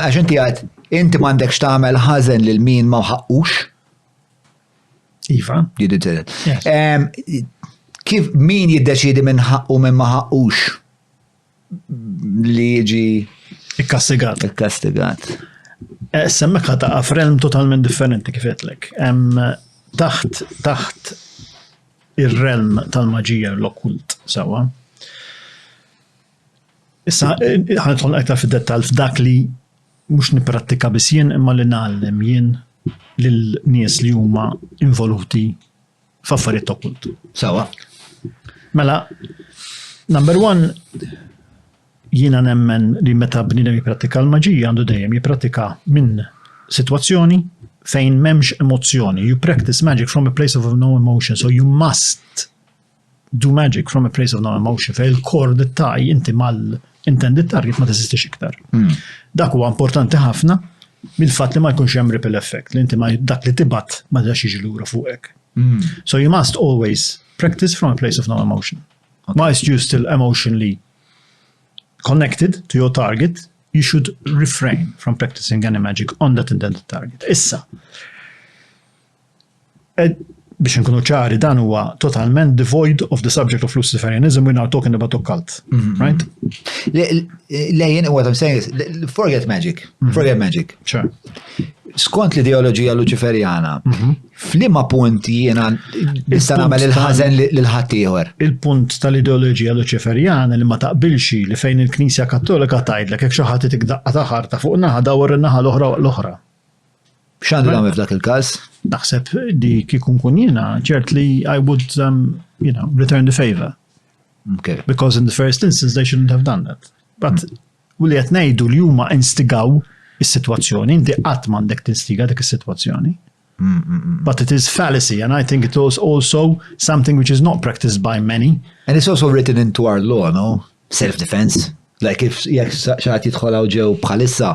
Għax inti għad, inti m'għandekx tagħmel ħażen lil min ma ħaqqux. Iva. Jiddu tiret. Kif min jiddeċidi minn ħaqqu minn ma ħaqqux li jiġi. Ikkastigat. Ikkastigat. Eh, semmek ħata għafrelm totalment differenti kifetlek. Taħt, taħt ir-relm tal-maġija l-okkult, sawa. Issa ħanidħol aktar fid-dettall f'dak li mhux nipprattika biss jien imma li nagħallem jien lil nies li huma involuti f'affarijiet ta' kult. Sawa. Mela, number one, jiena nemmen li meta bniedem jipprattika l-maġija għandu dejjem jipprattika minn sitwazzjoni fejn m'hemmx emozzjoni. You practice magic from a place of no emotion, so you must do magic from a place of no emotion, fej il-kor li taj inti mal-intended target ma teżistix iktar. Hmm. Dak huwa importanti ħafna mill-fatt li ma jkunx hemm ripple effect, li inti ma dak li tibat ma dax jiġi lura fuqek. Hmm. So you must always practice from a place of no emotion. Okay. Whilst you still emotionally connected to your target, you should refrain from practicing any magic on that intended target. Issa, biex nkunu ċari dan huwa totalment devoid of the subject of Luciferianism we're not talking about occult. Mm -hmm. Right? Lejn what I'm saying is forget magic. Mm -hmm. Forget magic. Sure. Skont l-ideoloġija Luċiferjana, mm -hmm. flima punt jiena nista' nagħmel il-ħażen lil ħaddieħor. Il-punt tal-ideoloġija Luċiferjana li ma taqbilxi li fejn il-Knisja Kattolika tgħidlek hekk xi ħadd tikdaqqa ta' ħarta fuq naħa dawar in-naħa l-oħra l-oħra. X'għandu nagħmel f'dak il-każ? Naħseb li kieku nkun jiena ċert li I would um, you know, return the favor. Okay. Because in the first instance they shouldn't have done that. But mm. u li qed ngħidu li huma instigaw is-sitwazzjoni, inti qatt m'għandek tinstiga dik is-sitwazzjoni. Mm, mm, But it is fallacy, and I think it is also something which is not practiced by many. And it's also written into our law, no? Self-defense. Like if jek xaħat jitħolaw ġew bħalissa,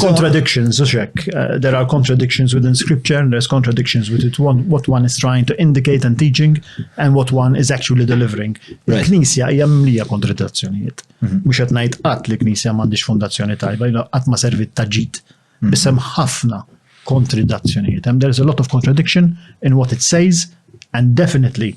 Contradictions, u xek. Uh, there are contradictions within scripture, and there's contradictions with it, one, what one is trying to indicate and teaching, and what one is actually delivering. Il-Knisja hija mlija kontradizzjonijiet. Mhm. Mhux qed ngħid qatt li Knisja m'għandix fondazzjoni tajba, qatt ma servit ta' ġid. Mhm. Biss hemm ħafna kontradizzjonijiet. Hemm there's a lot of contradiction in what it says, and definitely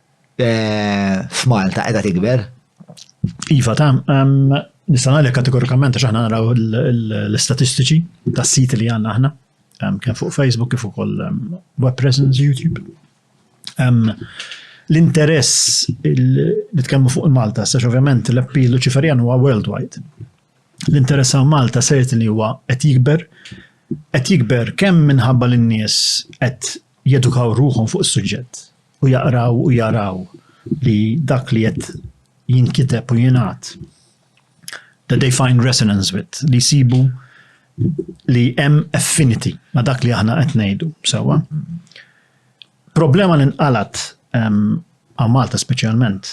eh, f'Malta qiegħda tikber. Iva, ta' nista' ngħidlek kategorikament għax aħna naraw l-istatistiċi tas-siti li għandna aħna, kien fuq Facebook kif ukoll web presence YouTube. L-interess li tkellmu fuq il-Malta, sax ovvjament l-appeal Luċiferjan huwa worldwide. L-interess għal Malta sejt li huwa qed jikber, qed jikber kemm minħabba l-nies qed jedukaw ruħhom fuq is-suġġett u jaqraw u jaraw li dak li qed jinkiteb u jingħad that they find resonance with, li jsibu li hemm affinity ma' dak li aħna qed ngħidu sewwa. Problema li nqalat għal Malta speċjalment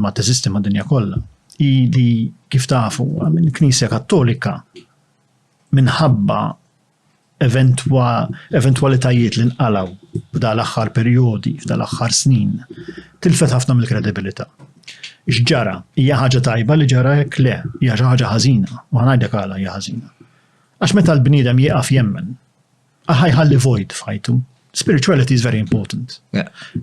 ma teżisti ma' dinja kollha hi li kif tafu il-Knisja Kattolika minħabba eventwalitajiet li nqalgħu f'dan l-aħħar perjodi, f'dan l-aħħar snin, tilfet ħafna mill-kredibilità. X'ġara? Hija ħaġa tajba li ġara hekk? Le, hija xi ħaġa ħażina, u ħanajdek għala hija ħażina. Għax meta l-bniedem jieqaf jemmen, aħħa jħalli void f'ħajtu. Spirituality is very important.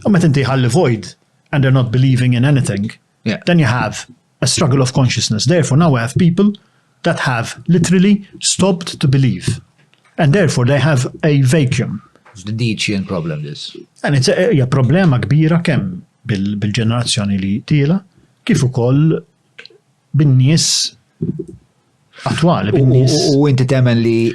U meta inti jħalli void and they're not believing in anything, Yeah. Then you have a struggle of consciousness. Therefore, now we have people that have literally stopped to believe. And therefore, they have a vacuum. It's the Nietzschean problem, this. And it's a, a problema kbira kemm bil-ġenerazzjoni li tila, kif ukoll bin-nies attwali, bin-nies. U inti temen li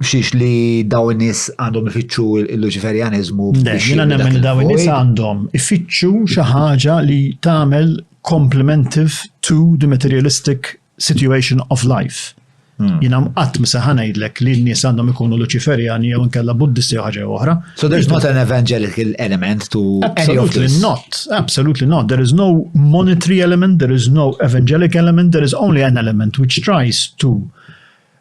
Xiex li daw nis għandhom ifittxu il-Luċiferjaniżmu. Jina nemmen daw nis għandhom ifittxu xi ħaġa li tagħmel complementive to the materialistic situation of life. Hmm. Jina mqatt misa ħanajdlek li n-nies għandhom ikunu Luċiferjani jew nkella Buddisti jew ħaġa oħra. So there's not an evangelical element to Absolutely not. Absolutely not. There is no monetary element, there is no evangelic element, there is only an element which tries to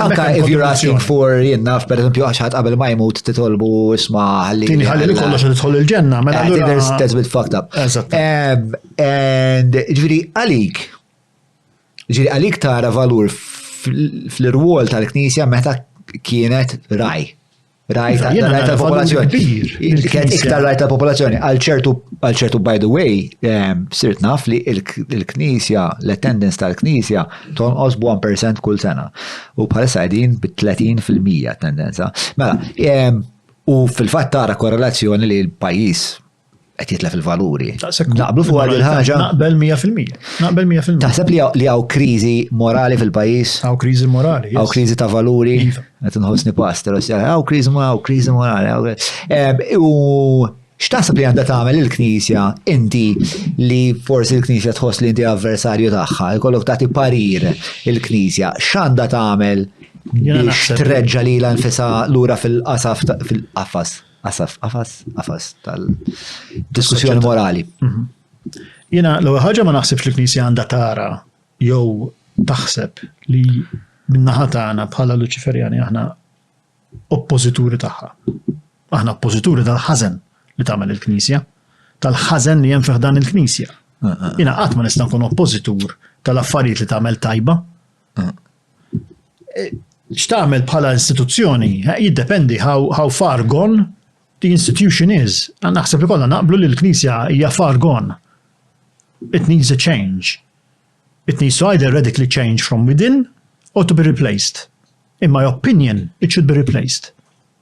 Anka if you're asking for jenna, per esempio, għaxħat qabel ma jmut titolbu isma għalli. Tini għalli li kollox titħol il-ġenna, mela. I think there's, that's a bit fucked up. Um, and ġviri għalik, ġviri għalik tara valur fl-irwol tal-knisja meta kienet raj. Rajt tal-popolazzjoni. Kien iktar rajt tal-popolazzjoni. Għal ċertu, by the way, ehm, sirt naf li il-knisja, l-attendance tal-knisja, tonqos b'1% kull sena. U bħalissa għedin b-30% attendenza. Mela, ehm, u fil-fat tara korrelazzjoni li l-pajis qed jitlef il-valuri. Naqblu fuq għal ħaġa. Naqbel 100%. Naqbel 100%. Taħseb li li hawn kriżi morali fil-pajjiż? Hawn kriżi morali. Hawn kriżi ta' valuri. Iva. Qed inħossni pastor, hawn kriżi morali, hawn kriżi morali. Eh, u x'taħseb li għandha tagħmel il-Knisja inti li forsi l-Knisja tħoss li inti avversarju tagħha, jkollok tagħti parir il-Knisja, x'għandha tagħmel biex treġġa li l-anfisa lura fil-qasaf fil-qafas? Asaf, qafas, qafas tal-diskussjoni morali. Mhm. Jena, l ħaġa ma naħsibx li knisja għandha tara jew taħseb li minnaħa tagħna bħala Luċiferjani aħna oppożituri tagħha. Aħna oppożituri tal-ħażen li tagħmel il-Knisja, tal-ħażen li hemm fih dan il-Knisja. Ah, ah, ah. Jena qatt ma nista' nkun oppożitur tal-affarijiet li tagħmel tajba, X'tagħmel bħala istituzzjoni eh, jiddependi how, how far gone the institution is. Naħseb li kollha naqblu li l-Knisja hija far gone. It needs a change. It needs to either radically change from within or to be replaced. In my opinion, it should be replaced.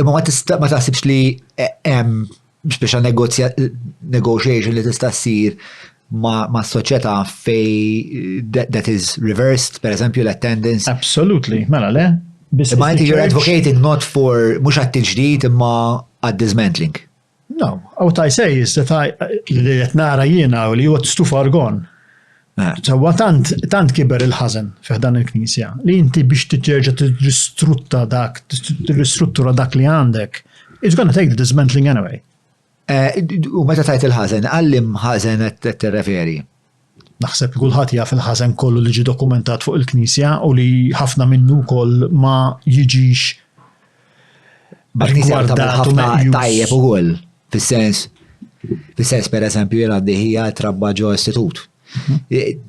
Imma ma tista' ma taħsibx li hemm speċa negotiation li tista' ssir ma' soċjetà fej that is reversed, per eżempju l-attendance. Absolutely, mela le. Imma inti you're advocating not for mhux għat-tiġdid imma għad-dismantling. No, what I say is that I, li qed nara jiena u li huwa tstuf argon. Eh. Sewwa tant tant kiber il-ħażen fih dan il-Knisja li inti biex titterġa' tirristrutta dak, tirristruttura dak li għandek. It's gonna take the dismantling anyway. Eh, u meta tajt il-ħażen, għallim ħażen qed tirreferi? Naħseb li kulħadd jaf il-ħażen kollu li ġie dokumentat fuq il-Knisja u li ħafna minnu wkoll ma jiġix gwardat u meqjus. Tajjeb ukoll, fis-sens, fis-sens per eżempju jien għandi ħija trabba ġo istitut. Mhm.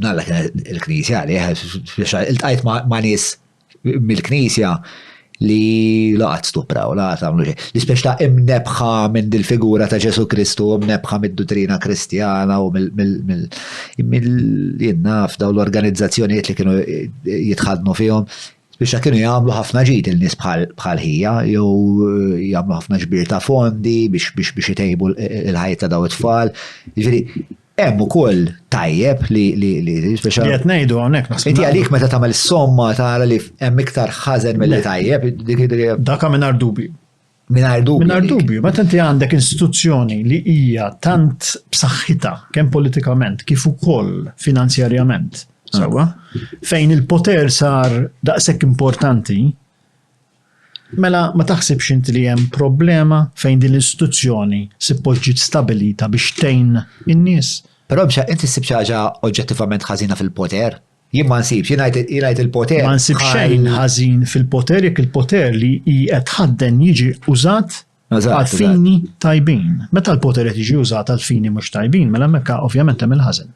Nalla il-Knisja li il-tajt ma' nies mill-Knisja li la qatt stupraw, la qatt għamlu xejn. L-ispeċ ta' imnebħa minn dil-figura ta' Ġesu Kristu, imnebħa mid-duttrina kristjana u mill-jinnaf daw l-organizzazzjonijiet li kienu jitħadnu fihom, biex kienu jagħmlu ħafna ġid il-nies bħal ħija, jew eh, jagħmlu ħafna ġbir ta' fondi biex biex biex itejbu il-ħajja ta' daw it-tfal. Jiġifieri, Hemm ukoll tajjeb li li li speċa. Li qed ngħidu hawnhekk naħseb. Inti għalik meta tagħmel somma tara li hemm iktar ħażen milli tajjeb. Dak mingħajr dubju. Mingħajr dubju. Mingħajr dubju, meta inti għandek istituzzjoni li hija tant b'saħħitha kemm politikament kif ukoll finanzjarjament, sewwa, fejn il-poter sar daqshekk importanti, Mela ma taħsibx int li hemm problema fejn din l-istituzzjoni suppost ġiet stabbilita biex tgħin in-nies? Però Misha, int issib xi ħaġa oġġettivament ħażina fil-poter? Jien ma nsibx, jien ngħid il-poter. Ma nsib xejn ħażin fil-poter jekk il-poter li hi qed tħadden jiġi użat Għal-fini tajbin. Meta l-poter qed jiġi użat għal-fini mhux tajbin, mela hemmhekk ovvjament hemm il-ħażen.